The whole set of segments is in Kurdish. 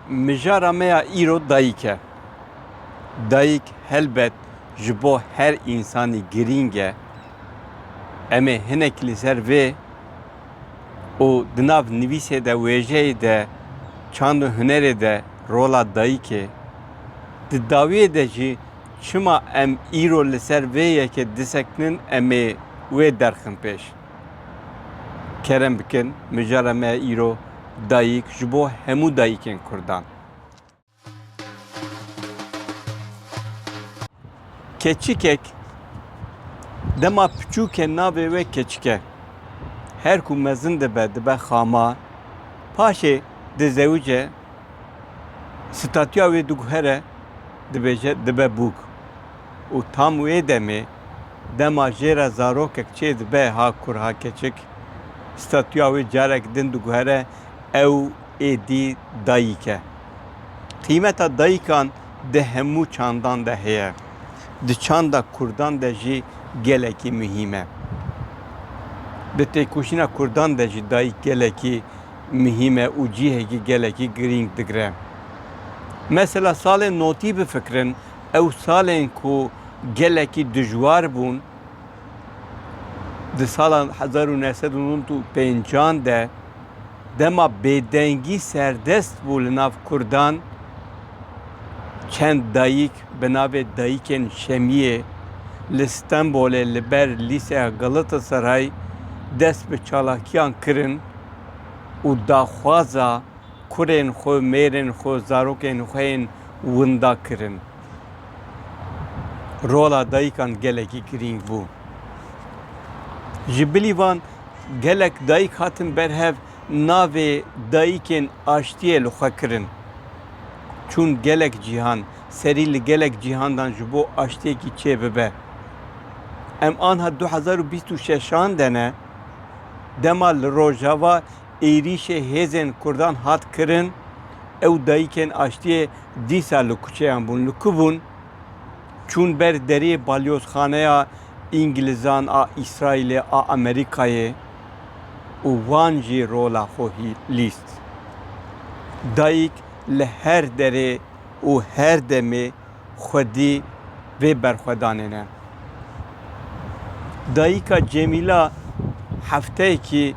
Mijara me ya îro dayîk e. Dayîk helbet ji bo her însanî girîng e. Em ê hinek li ser vê û di nav nivîsê de, wêjeyê de, çand û hunerê de rola dayîkê. Di dawiyê de jî çima em îro li ser vê yekê disekinin em ê wê derxin pêş. Kerem bikin mijara me îro dayîk ji bo hemû dayîkên Kurdan. Keçikek dema piçûk e navê wê keçik e. Her ku mezin dibe dibe xama. Paşê dizewice statûya wê diguhere dibêje dibe bûk. Û tam wê demê, dema jê re zarokek çê dibe ha kur ha keçik, statûya wê carek din diguhere ew êdî dayîk e. Qîmeta dayîkan di hemû çandan de heye. Di çanda kurdan de jî gelekî muhîm e. Di têkoşîna kurdan de jî dayîk gelekî muhîm e û cîhekî gelekî girîng digire. Mesela salên notî bifikirin Ew salên ku gelekî dijwar bûn di sala hezar û neh sed û nod û pêncan de dema bêdengî serdest bû li nav Kurdan çend dayîk bi navê Dayîkên Şemiyê li Stenbolê li ber Lîseya Galatasaray dest bi çalakiyan kirin û daxwaza Kurên xwe, mêrên xwe, zarokên xwe yên winda kirin. Rola dayikan gelekî girîng bû. Ji bilî van gelek dayik hatin ber hev navê dayikên aştiyê li xwe kirin. Çûn gelek cîhan, serî li gelek cîhandan ji bo aştiyekî çê bibe. Em anha du hezar û bîst û şeşan de ne, dema li Rojava êrîşê hêzên Kurdan hat kirin, ew dayikên aştiyê dîsa li kuçeyan bûn. Li ku bûn? Çûn ber derê balyozxaneya Îngilizan a Îsraîlê a Amerîkayê û wan jî rola xwe lîst. Dayik li her derê û her demê xwedî vê berxwedanê ne. Dayîka Cemîla hefteyekî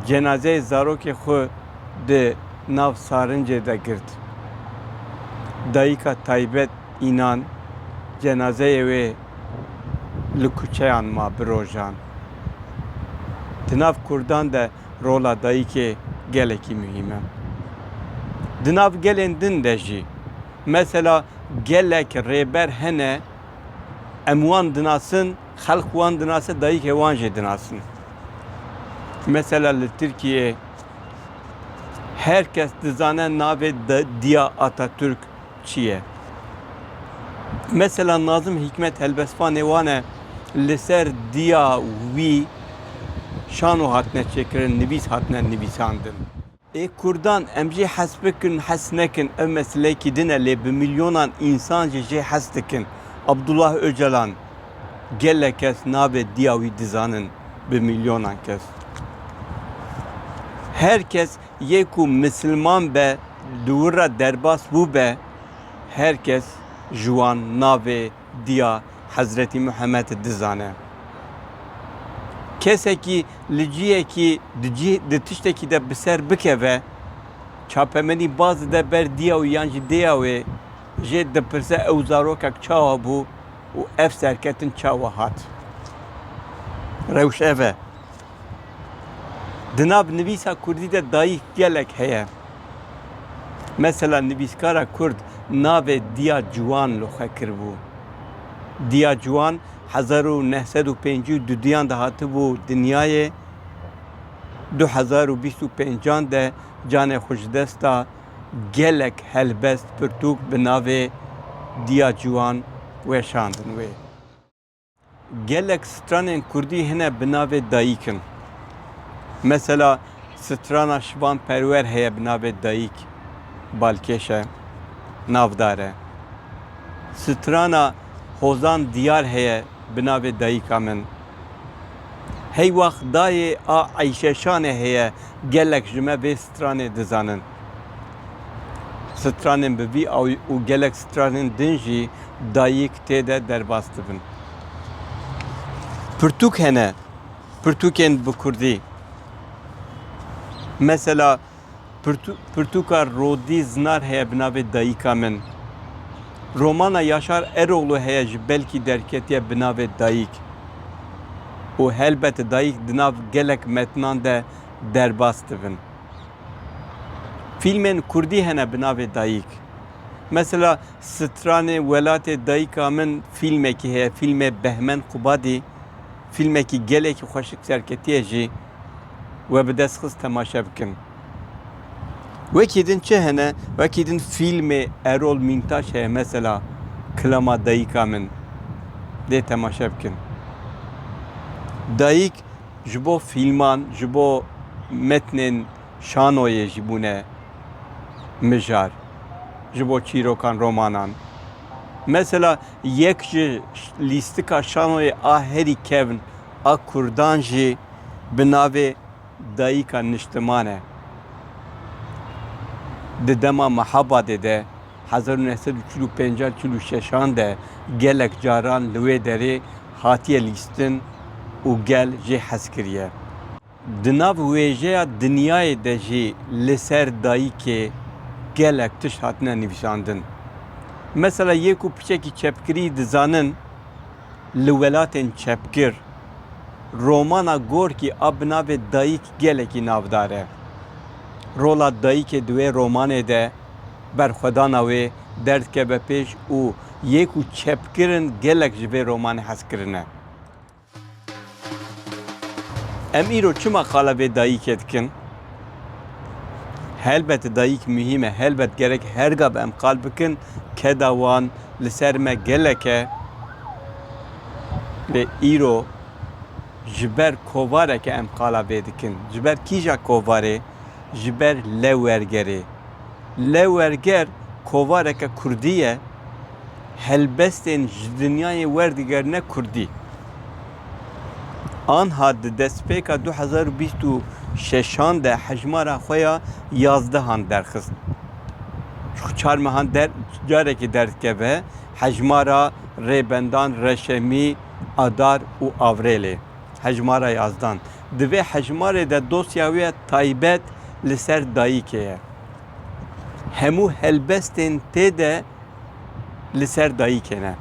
cenazeyê zarokê xwe di nav sarincê de girt. Dayîka taybet înan cenazeyê wê li kuçeyan ma bi rojan. Di nav kurdan de rola dayikê gelekî muhîm e. Di nav gelên din de jî mesela gelek rêber hene em wan dinasin, xelk wan dinase, dayikê wan jî dinasin. Mesela li Tirkiyê her kes dizane navê Diya Atatürk Çi ye? Mesela Nazim Hîkmet helbestvanê wan e li ser diya wî şano hatine çêkirin, nivîs hatine nivîsandin. Ê kurdan em jê hez bikin hez nekin ev meseleyekî din e lê bi milyonan însan jî jê hez dikin. Abdullah Ocalan gelek kes navê diya wî dizanin bi milyonan kes. Her kes Yê ku misilman be di wir re derbas bûbe, her kes ji wan navê Diya Hezretî Muhemed dizane. Kesekî li cihekî di cih di tiştekî de bi ser bikeve, çapemenî baz dide ber diya wî yan jî dêya wê, jê dipirse ew zarokek çawa bû û ev serketin çawa hat. Rewş ev e. Di nav nivîsa kurdî de dayîk gelek heye. Mesela nivîskara kurd navê Diya Ciwan li xwe kiribû. Diya Ciwan hezar û neh sed û pêncî û duduyan de hatibû dinyayê, du hezar û bîst û pêncan de canê xwe ji dest da, gelek helbest pirtûk bi navê Diya Ciwan weşandin wê. Gelek stranên kurdî hene bi navê Dayîkim. Mesela strana Şivan Perwer heye bi navê Dayîk balkêş e, navdar e. Strana Hozan Diyar heye bi navê Dayîka min. Heywax dayê a Eyşe Şanê heye gelek ji me vê stranê dizanin. Stranên bi vî awî û gelek stranên din jî Dayîk tê de derbas dibin. Pirtûk hene, pirtûkên bi kurdî. Mesela pirtûka Rodî Zinar heye bi navê Dayîka min. Romana Yaşar Eroğlu heye ji belkî derketiye bi navê Dayîk û helbet Dayîk di nav gelek metinan de derbas dibin. Fîlmên kurdî hene bi navê Dayîk. Mesela stranê welatê dayika min fîlmekî heye, fîlmê Behmen Qubadî, fîlmekî gelekî xweşik serketiye jî we bi dest xist temaşe bikin. Wekî din çi hene? Wekî din fîlmê Erol Mîntaş heye mesela Kilama Dayika Min. Dê temaşe bikin. Dayik ji bo fîlman, ji bo metnên Şanoyê jî bûne mijar ji bo çîrokan, romanan. Mesela yek ji lîstika şanoyê a herî kevn a kurdan jî bi navê Dayîka Niştiman e. Di dema Mehabadê de hezar û neh sed û çil û pênc an çil û şeş an de gelek caran li wê derê hatiye lîstin û gel jê hez kiriye. Di nav wêjeya dinyayê de jî li ser dayikê gelek tişt hatine nivîsandin. Mesela yê ku piçekî çepkirî dizanin li welatên çepkir, romana Gorkî a bi navê Dayik gelekî navdar e. Rola dayikê di wê romanê de berxwedana wê derdikeve pêş û yê ku çepkir in gelek ji vê romanê hez kirine. Em îro çima qala vê dayîkê dikin? Helbet dayîk muhîm e, helbet gerek her gav em qal bikin, keda wan li ser me gelek e. Lê îro ji ber kovareke em qala vê dikin. Ji ber kîja kovarê? Ji ber Lewergerê. Lewerger kovareke kurdî ye. helbestên ji dinyayê werdigerine kurdî. Anha di destpêka du hezar û bîst û şeşan de hejmara xwe ya yazdehan derxist. Ji xwe çar mehan der carekê derdikeve hejmara Rêbendan, Reşemî, Adar û Avrêlê. Hejmara yazdan. Di vê hejmarê de dosya wê ya taybet li ser dayikê ye. Hemû helbestên tê de li ser dayîkê ne.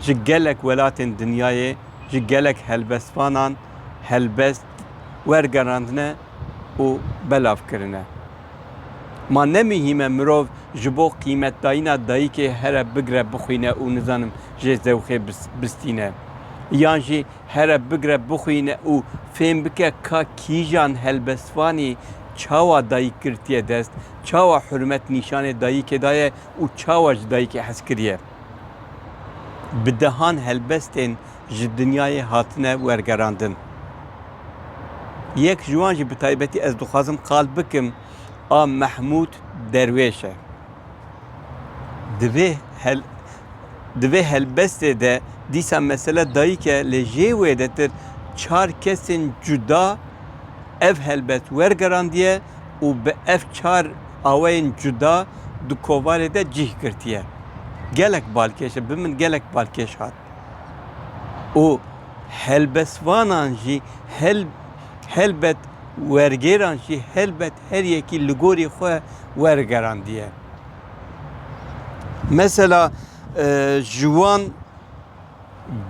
Ji gelek welatên dinyayê, ji gelek helbestvanan helbest wergerandine û belav kirine. Ma ne mihîme mirov ji bo qîmetdayîna dayîkê here bigre bixwîne û nizanim jê zewxê bistîne. Yan jî here bigre bixwîne û fêm bike ka kîjan helbestvanî çawa dayîk girtiye dest, çawa hurmet nîşanê dayîkê daye û çawa ji dayîkê hez kiriye. Bi dehan helbestên ji dinyayê hatine wergerandin. Yek ji wan jî bi taybetî ez dixwazim qal bikim a Mehmûd Derwêş e. Di vê hel di vê helbestê de dîsa mesele dayîk e lê jê wêdetir çar kesên cuda ev helbest wergerandiye û bi ev çar awayên cuda di kovarê de cih girtiye. Gelek balkêş e, bi min gelek balkêş hat û helbestvanan jî hel helbet wergêran jî helbet her yekî li gorî xwe wergerandiye. Mesela ji wan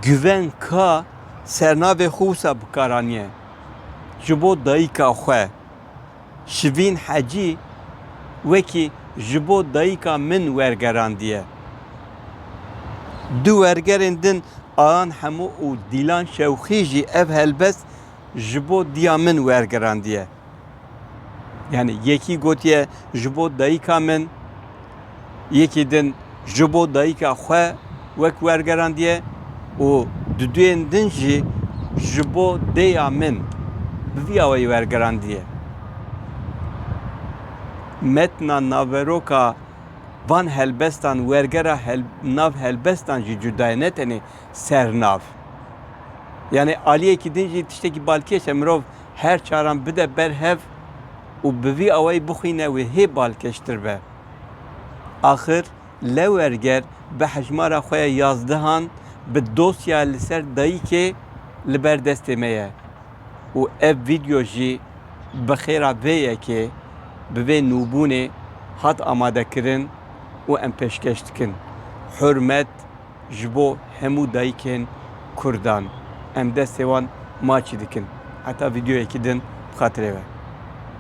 Güven Ka sernavê xwe wisa bikaranîye ji bo dayîka xwe. Şivîn Hecî wekî Ji bo dayika min wergerandiye. Di wergerên din Ayan Hemo û Dîlan Şewxî jî ev helbest ji bo diya min wergerandiye. Yanî yekî gotiye ji bo dayika min, yekî din ji bo dayika xwe wek wergerandiye û di duyên din jî ji bo dêya min bi vî awayî wergerandiye. Metna naveroka van helbestan wergera nav helbestan jî cuda ye ne tenê sernav. Yanê aliyekî din jî tiştekî balkêş e mirov her çaran bide ber hev û bi vî awayî bixwîne wê hê balkêştir be. Axir Lewêrger bi hejmara xwe ya yazdehan bi dosya li ser dayîkê li ber destê me ye û ev vîdyo jî bi xêra vê yekê bi vê nûbûnê hat amadekirin û em pêşkêş dikin. Hurmet. Ji bo hemû dayikên Kurdan. Em destê wan maçî dikin. Heta vîdyoyekî din bi xatirê ve.